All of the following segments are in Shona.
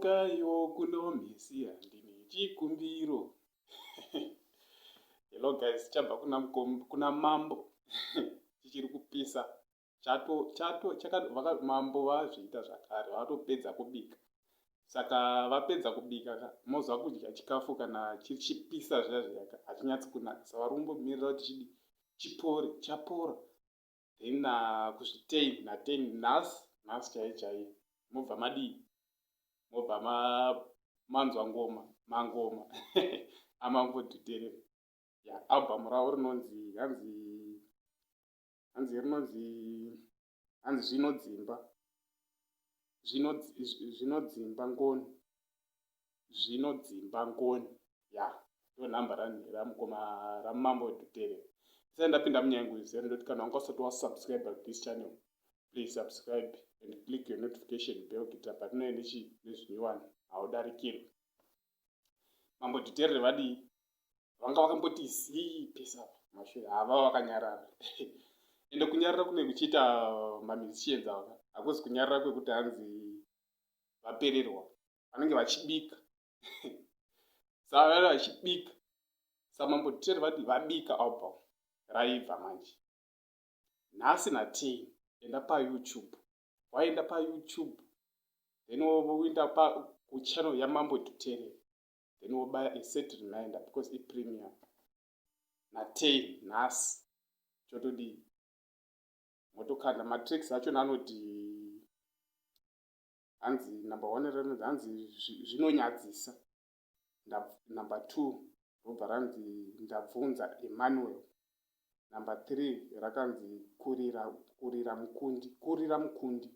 Cheukaiwo kuno mhisi handine chikumbiro. Hello guys, chabva kuna, kuna mambo chichiri kupisa chato chato chakavaka mambo vazviita zvakare vatopedza kubika saka vapedza kubika mozwa kudya chikafu kana chichipisa zviya zviyaka hachinyatsi kunaka sa vari kumbomirira kuti chidi chipore chapora then na kusvika ten na ten nhasi nhasi chaiye chaiye mobva madii mobva ma manzwa ngoma mangoma amambodutere ya album ravo rinonzi hanzi hanzi rinonzi hanzi zvinodzimba zvinodzimba ngoni zvinodzimba ngoni ya ndonhamba ramukoma ramambo wedutere sai ndapinda munyangu izere ndoti kana wanga usati wasubscribe this channel please subscribe and click your notification bell kuitira patinoe nezvinyowani haudarikirwi mambo dhiterere vadii vanga vakamboti zii pesa mashure hava vakanyarara ende kunyarara kune kuchiita mamishienza vaka hakuzi kunyarara kwekuti hanzi vapererwa vanenge vachibika savaa vachibika samambo dhiterere vadii vabika album raibva manje nhasi natei enda payoutube waenda payoutube then woenda kuchannel yamambo tutere then wobaya aset reminder because ipremium natei nhasi chotodii motokanda matricks acho nanoti hanzi number one renonzi hanzi zvinonyadzisa number two robva ranzi ndabvunza emmanuel number three rakanzi kurira kurira mukundi kurira mukundi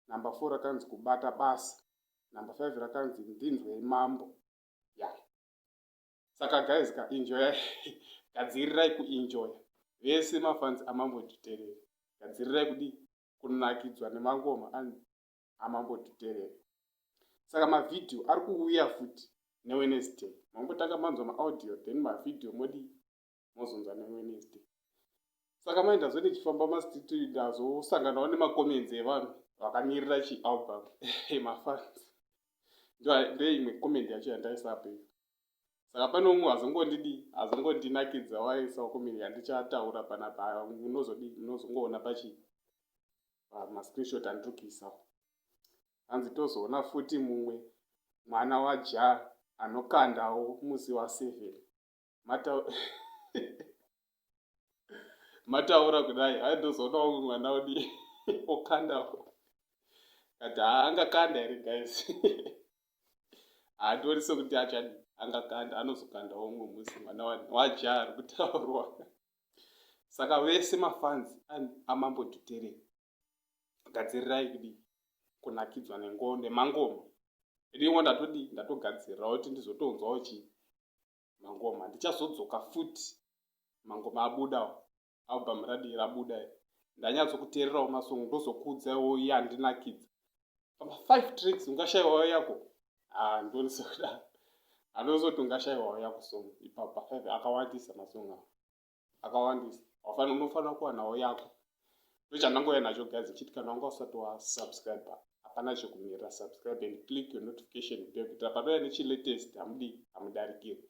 number four rakanzi kubata basa number five rakanzi ndinzwei mambo ya yeah. saka guys ka enjoya gadzirirai kuenjoya vese mafanzi amambo nditerere gadzirirai kudii kunakidzwa nemangoma ani amambotiterera saka mavhidhiyo ari kuuya futi newednesday mambotanga manzwa maaudio then mavhidhiyo modii mozonzwa newednesday saka mai ndazve ndichifamba mastreet ndazosanganawo nemacomments evanhu vakamirira chialbum mafans ndoimwe comment yacho yandaisape saka pane umwe azongondidi azongondinakidza waisawo comment yandichataura panapa unozodii unozongoona pachii pamascreenshot andiri kuisa hanzi tozoona futi mumwe mwana waja anokandawo musi waseven mataura kudai hai ndozoonawo mumwe mwana udi okandawo kati haangakanda here guys haatooni sekuti achadi angakanda anozokandawo mumwe musi mwana waja ari kutaurwa saka vese mafanzi amambo dhutere gadzirirai kudii kunakidzwa nengo nemangoma ringo ndatodii ndatogadzirirawo kuti ndizotonzwawo chii mangoma ndichazodzoka futi mangoma abudawo album radii rabuda ndanyatsokuteererawo masongo ndozokuudzaiwo iye andinakidza pama five tricks ungashaiwawo yako ah, ndoni sekudaro anozoti ungashaiwawo yako song ipapa five akawandisa masong awo akawandisa wafana unofanira kuwanawo yako ndochandangouya nacho gazi chiti kana wanga usati wasubscribe hapana chekumirira subscribe and click your notification bell kuitira panouya nechilatest hamudi hamudarikiri